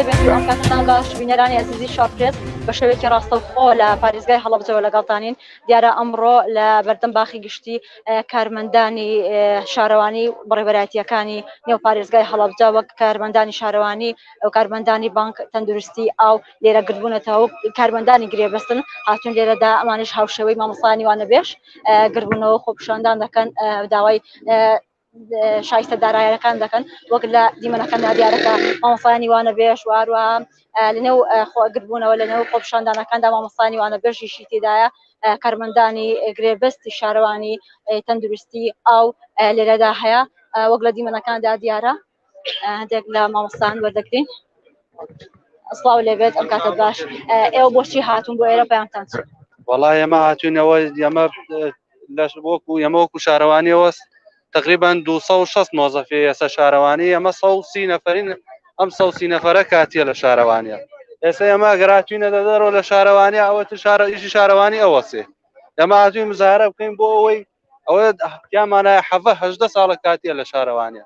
ئەوکاتتان باش بینەرانی ئەزیزی شاپرێت بە شێوێکی ڕاستەوخۆ لە پارێزگای هەڵبجەوە لەگەڵتانین دیارە ئەمڕۆ لە بەردەم باخی گشتی کارمەندانی شارەوانی بڕێبەراتیەکانی نێو پارێزگای هەڵبجە وەک کارمەندانی شارەوانی ئەو کارمەندانی بانک تەندروستی ئاو لێرە گربوونەتەوە کارمەندانی گرێبەستن هاتون لێرەدا ئەمانش هاوشەوەی مامەسانی وانە بێش گربوونەوە خۆپشاندان دەکەن داوای شایستە دارایەکان دەکەن وەک لە دیمەنەکە نادیارەکە مامۆسانی وانە بێش واروە لەنێو خۆگربوونەوە لەنێو خۆپشاندانەکاندا مامۆسانی وانە بێژیشی تێدایە کارمەندانی گرێبەستی شارەوانی تەندروستی ئاو لێرەدا هەیە وەک لە دیمەنەکاندا دیارە هەندێک لە مامۆستان وەردەگرین ئەسڵاو لێبێت ئەم کاتە باش ئێوە بۆچی هاتون بۆ ئێرە پێیانتان وڵا ئێمە هاتوینەوە ئەمە لەش وەکو ئەمە وەکو شارەوانیەوە تقریبا 260 مۆزەفی ئێستا شارەوانی ئەمە سەسی نەفرین ئەم سەسی نەفرە کاتیە لە شارەوانە ئێستا ئەمە گەراتوینە دەدەرەوە لە شارەوانی ئەوە شارە ئیشی شارەوانی ئەوەسێ ئەمە هاتوی مزارە بکەین بۆ ئەوەی ئەوە یامانە حەڤهدە ساڵە کاتیە لە شارەوانە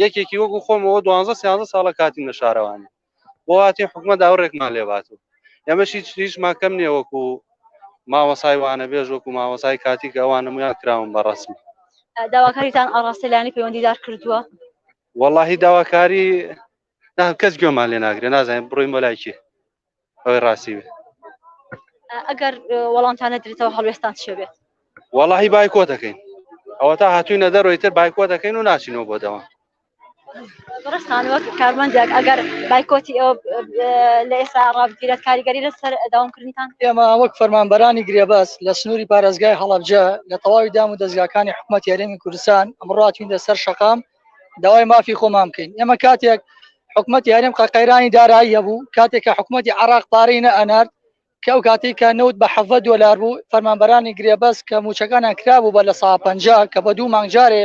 یەکێکی وەکو خۆمەوە دوانزە سیانزە ساڵە کاتیم لە شارەوانی بۆاتی حکومە داوڕێکمان لێبات و ئەمەش هیچ هیچمان کەم نیە وەکو مامەسای وانە بێژ وەکو مامەسای کاتی کە ئەوان نمویان کراون بە ڕسمی داواکاریتان ئاڕاستەلانی پەیوەندیدار کردووە؟ وەڵی داواکاری نام کەس گوێمان لێ ناگرێ نازانین بڕۆین بۆ لای کێ ئەوەی ڕاستی بێ ئەگەر وەڵامتان نەدرێتەوە هەڵوێستان چێ بێت وەڵی بایکۆ دەکەین ئەوە تا هاتووی نەدەر ڕۆیتر بایکۆ دەکەین و ناچینەوە بۆ دەوام ڕستان وەک کارمەندێک ئەگەر بایکۆتی ئەو لە ئێستا ڕابگیرێت کاریگەری لەسەر داوامکردنتان ئێمە وەک فەرمانبەرانی گرێبەس لە سنووری پارێزگای هەڵەبجە لە تەواوی دام و دەستگاکانی حکوومەت یاریمی کوردستان ئەمڕاتوینە سەر شقام داوای مافی خۆمان بکەین ئێمە کاتێک حکوومەتی هەرێم قەقەیرانی دارایی هەبوو کاتێک کە حکوومەتی عراق پارەی نە ئەنارد کە ئەو کاتی کە نەوت بە حەڤە دۆلار بوو فەرمانبەرانی گرێبەست کە موچەکانیان کرابوو بە لە سا پ کە بە دوو مانگجارێ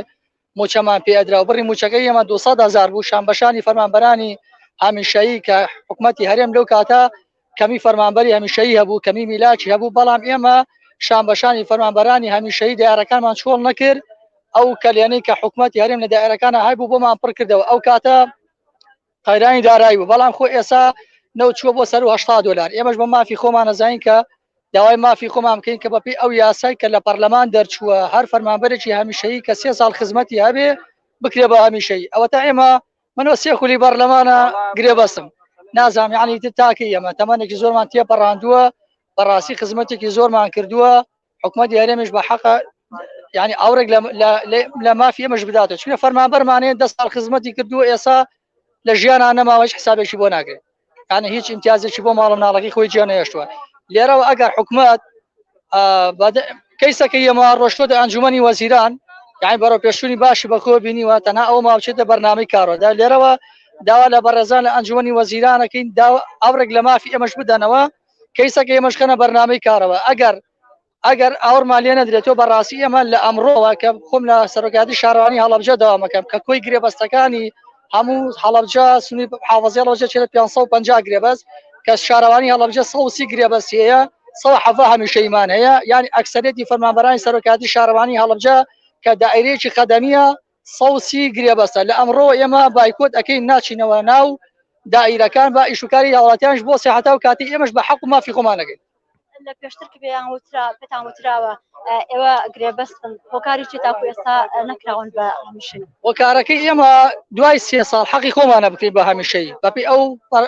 موچەمان پێدرا و بڕی موچەکەی ئێمە 200 هزار بوو شان بەشانی فەرمانبەرانی هامیشایی کە حکوومەتی هەرێم لەو کاتە کەمی فەرمانبەری هەمیشەیی هەبوو کەمی میلاکی هەبوو بەڵام ئێمە شان بەشانی فەرمانبەرانی هەمیشەی دارەکانمان چۆڵ نەکرد ئەو کەلێنەی کە حکوومەتتی هەرێم لە دایرەکانە هەبوو بۆمان پڕ کردەوە ئەو کاتە قەیرانی دارایی بوو بەڵام خۆ ئێسا نەوچووە بۆ سەر هشتا دلار ئێمەش بە مافی خۆمانەزانین کە داوای مافی خۆمان بکەین کە بەپی ئەو یاسای کە لە پەرلەمان دەرچووە هەر فەرمانبەرێکی هەمیشەیی کە سێ ساڵ خزمەتی هەبێ بکرێ بە هەمیشەی ئەوە تا ئێمە من وە سێ خولی بەڕلەمانە گرێبەستم نازام یعنی تر تاکە ئێمە تەمەێکی زۆرمان تێپەڕاندووە بەڕاستی خزمەتێکی زۆرمان کردووە حکومت یارێمش بە حەقە ینی ئاورێک لە مافی ئەمەش بداتە چونە فەرمانبەرمانێ دە سال خزمەتی کردووە ئێسا لە ژیانان نەماوەش حسابێکی بۆ ناگرێت یانە هیچ امتیازێکی بۆ ماڵە مناڵەکەی خۆی جیان نەهێشتووە لێرەوە ئەگەر حکومت کەیسەکە یەما ڕۆشتۆتە ئەنجومی وەزیران یان بەرە پێشونی باشی بەکۆ بینیوە تەنها ئەو ماوچێتە بەرنامی کارۆدا لێرەوە داوا لە بەڕێزان لە ئەنجومی وەزیرانەکەین ئەوڕێک لە مافی ئەمەش بدەنەوە کەیسەکە ئێمەشکەنە بەرنامی کارەوە ئەگەر ئەگەر ئاوڕمان لێ نەدرێتەوە بەڕاستی ئەمە لە ئەمڕۆوە کە خۆم لە سەرۆکاتی شارانی هەڵەبجە داوامەکەم کە کۆی گرێبەستەکانی هەموو هەڵەبجە سنی حاوەزیڵەوەجە چێت 550 گرێبەس کە شارەوانی هەڵەبجە سەوسی گرێبەس هەیە سەو حەفا هەمیشەیمان هەیە یعنی ئەکسەرێتی فەرمانبەرانی سەرۆکاتی شارەوانی هەڵەبجە کە دائرەیەکی خەدەمیە سەوسی گرێبەستە لە ئەمڕۆ ئێمە بایکۆت ئەەکەین ناچینەوە ناو دائیرەکان بە ئیشوکاری هاوڵاتیانش بۆ سەحتا و کاتی ئێمەش بە حەق و مافی خۆمانەکەین لە پێشتر کە پێیان وترا پێتان وتراوە ئێوە گرێبەستن هۆکاری چی تاکو ئێستا نەکراون بە هەمیشن هۆکارەکەی ئێمە دوای سێ ساڵ حەقی خۆمانە بکەین بە هەمیشەی بەپی ئەو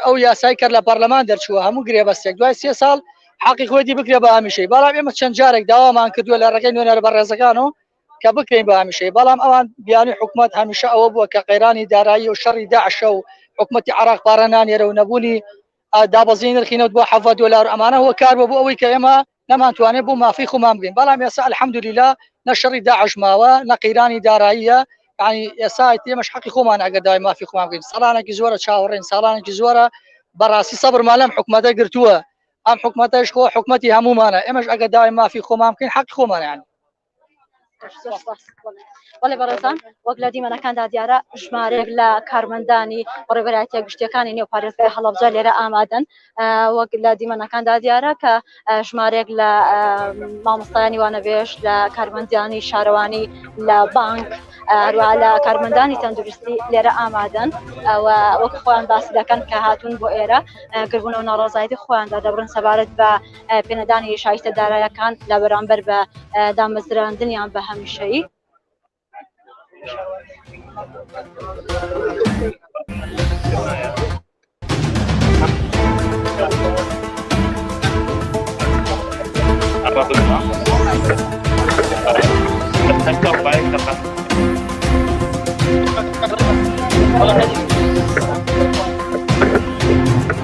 ئەو یاسای کە لە پەرلەمان دەرچووە هەموو گرێبەستێک دوای سێ ساڵ حەقی خۆی دی بکرێ بە هەمیشەی بەڵام ئێمە چەند جارێک داوامان کردووە لە ڕێگەی نوێنەر بە ڕێزەکان و کە بکەین بە هەمیشەی بەڵام ئەوان بیانوی حکوومەت هەمیشە ئەوە بووە کە قەیرانی دارایی و شەڕی داعشە و حکوومەتتی عراق پارە نانێرە و نەبوونی دابەزین نرخی نەوت بۆ حەڤە دۆلار و ئەمانە هۆ کار بۆ بۆ ئەوەی کە ئێمە نەمانتوانێت بۆ مافی خۆمان بگەین بەڵام ئێستا الحەمدلیلا نە شەڕی داعش ماوە نە قەیرانی داراییە ینی ئێسا ئێمەش حەقی خۆمان ئەگە دای مافی خۆمان بگەین ساڵانێکی زۆرە چاوەڕێن ساڵانێکی زۆرە بەڕاستی سەبرمان لەم حکوومەتە گرتووە ئەم حکوومەتەش خۆ حکوومەتتی هەمومانە ئێمەش ئەگە داوای مافی خۆمان بکەین حەق خۆمانیان بەڵێ بەڕێزان وەک لە دیمەنەکاندا دیارە ژمارێک لە کارمەندانی بەڕێبەرایەتە گشتیەکانی نێو پارێزگای هەڵەبجە لێرە ئامادەن وەک لە دیمەنەکاندا دیارە کە ژمارێک لە مامۆستایانی وانەبێژ لە کارمەندیانی شارەوانی لە بانک هەروە لە کارمەندانی تەندروستی لێرە ئامادەن وەک خۆیان باسی دەکەن کە هاتوون بۆ ئێرە گربوونەوە ناڕازایەتی خۆیاندا دەبرن سەبارەت بە پێنەدانی شایستە دارایەکان لە بەرامبەر بە دامەزراندنیان بە هەمیشەیی. Thank you.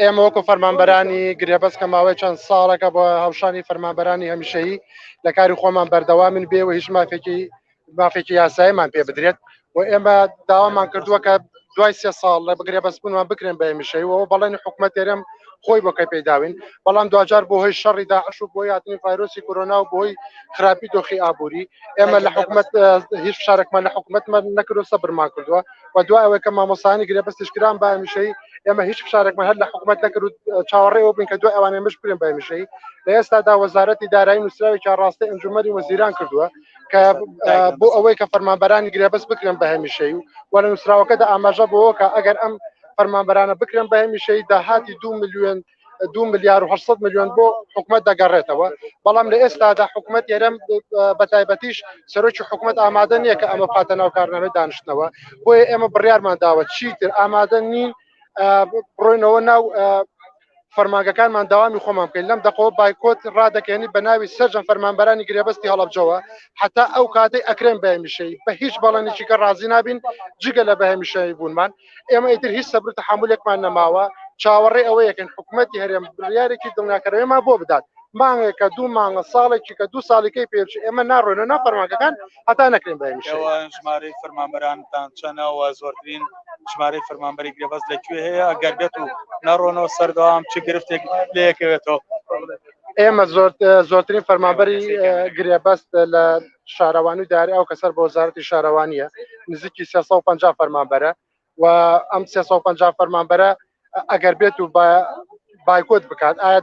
ئێمە وەکو فەرمانبەرانی گرێبەست کە ماوەی چەند ساڵەکە بۆ هەڵشانی فەرمانبەرانی هەمیشەیی لە کاری خۆمان بەردەوامن بێ و هیچ مافێکی مافێکی یاسایمان پێ بدرێت و ئێمە داوامان کردووە کە دوای سێ ساڵ لە بگرێ بەسبوونمان بکرێن بە هەمیشەیەوە بەڵێنی حکوومەت تێرەم خۆی بۆ کە پێداوین بەڵام دواجار بۆ هۆی شەڕی داعش و بۆ یاتنی فایرۆسی کۆرۆنا و بۆی خراپی دۆخی ئابووری ئێمە لە حکوومەت هیچ شارێکمان لە حکوومەتمان نەکردو سەبرمان کردووە و دوای ئەوەی کە مامۆسانی گرێبەستیش کران بە هەمیشەی ئێمە هیچ فشارێکمان هەر لە حکوومەت نەکرد و چاوەڕێ ئەوە بووین کە دوای ئەوانەی مش بکرێن بە هەمیشەی لە ئێستادا وەزارەتی دارایی نووسراوێکی ڕاستی ئەنجومەری وەزیران کردووە کە بۆ ئەوەی کە فەرمانبەرانی گرێبەست بکرێن بە هەمیشەی و وە لە نووسراوەکەدا ئاماژە بۆەوە کە ئەگەر ئەم فەرمانبەرانە بکرێن بە هەمیشەی داهاتی دو میلیۆن دو ملیار و 800 میلیۆن بۆ حکومت دەگەڕێتەوە بەڵام لە ئێستادا حکومت ئێرەم بە تایبەتیش سەرۆکی حکومت ئامادە نییە کە ئەمە پاتە ناو کارنامە دانیشتنەوە بۆیە ئێمە بڕیارمان داوە چیتر ئامادە نین بڕۆینەوە ناو فەرمانگەکانمان داوامی خۆمان بکەین لەم دەقەوە بایکۆت ڕادەکەێنی بە ناوی سەررجەم فەرمانبەرانی گرێبەستی هەڵبجەوە حتا ئەو کاتەی ئەکرێن بەمیشەی بە هیچ بەڵێنێکی کە ڕازی نابین جگە لە بەهمیشەی بوونمان ئێمە ئیتر هیچ سەبر و تەحەمولێکمان نەماوە چاوەڕێ ئەوەیەکن حکوومەتتی هەرێم بڕیارێکی دڵنیاکەرەوەیمان بۆ بدات مانگێکە دوو مانگە ساڵێکی کە دوو ساڵیکەی پێچ ئێمە ناڕۆێنە نا فەرمانگەکان هەتا نەکرێن بە ژمارەی فەرمانبەرانتان چەنەوە زۆرترین ژمارەی فەرمانبەری گرێبەز لەکوێ هەیە ئەگەر بێت و ناڕۆنەوە سەردەوام چ گرفتێک لەیەکەوێتەوە ئێمە زۆر زۆرترین فەرمانبەری گرێبەست لە شارەوانی و دایرە ئەو کە سەر بە وەزارەتی شارەوانییە نزیکی 350 فەرمانبەرە و ئەم 350 فەرمانبەرە ئەگەر بێت و بایکۆت بکات ئایا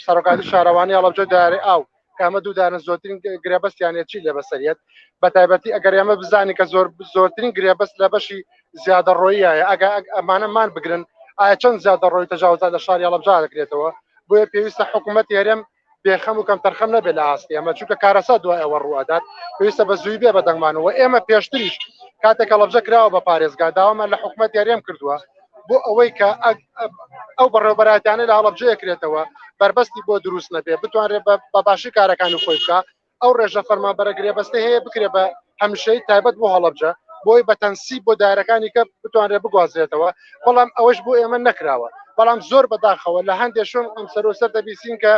سەرۆکاتی شارەوانی هەڵەبجە دارێ ئاو کامە دوو دانە زۆرترین گرێبەستیانە چی لە بەسەریت بە تایبەتی ئەگەر ئێمە بزانانی کە زۆر زۆرترین گرێبەست لە بەشی زیادە ڕۆیە ئەگە ئەمانەمان بگرن ئایا چەند زیادە ڕۆی تەجاوزات لە شاری هەڵەبجا دەکرێتەوە بۆیە پێویستە حکوومەت هەرێم بێخەم و کەم تەرخەم نەبێت لە ئاستی ئەمە چونکە کارەسا دوای ئەوە ڕوئەدات پێویستە بە زووی بێ بە دەنگمانەوە ئێمە پێشتریش کاتێکە لەبجە کراوە بە پارێزگا داوامان لە حکوومەت یاریم کردووە بۆ ئەوەی کە ئەو بەڕێوبەراتیانە لە هەڵبجەیە کرێتەوە بەربەستی بۆ دروست نەبێ بتوانرێت بە باشی کارەکانی خۆی بکە ئەو ڕێژە فەرمانبەرە گرێبەستەی هەیە بکرێت بە هەمیشەیی تایبەت بۆ هەڵەبجە بۆی بە تەنسیب بۆ دایرەکانی کە بتوانرێت بگوازرێتەوە بەڵام ئەوەش بۆ ئێمە نەکراوە بەڵام زۆر بەداخەوە لە هەندێک شوێن ئەم سەرۆ سەر دەبیسین کە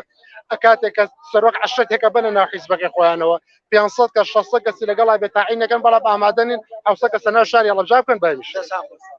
کاتێک کە سەرۆک عشرەت هێکە بەنە ناو حیزبەکەی خۆیانەوە 500 کە 600 کەسی لەگەڵا بێتاعی نەکەن بەڵام ئامادەنین ئەوسە کە سەنا شاری هەڵەبجا بکەن بەمیش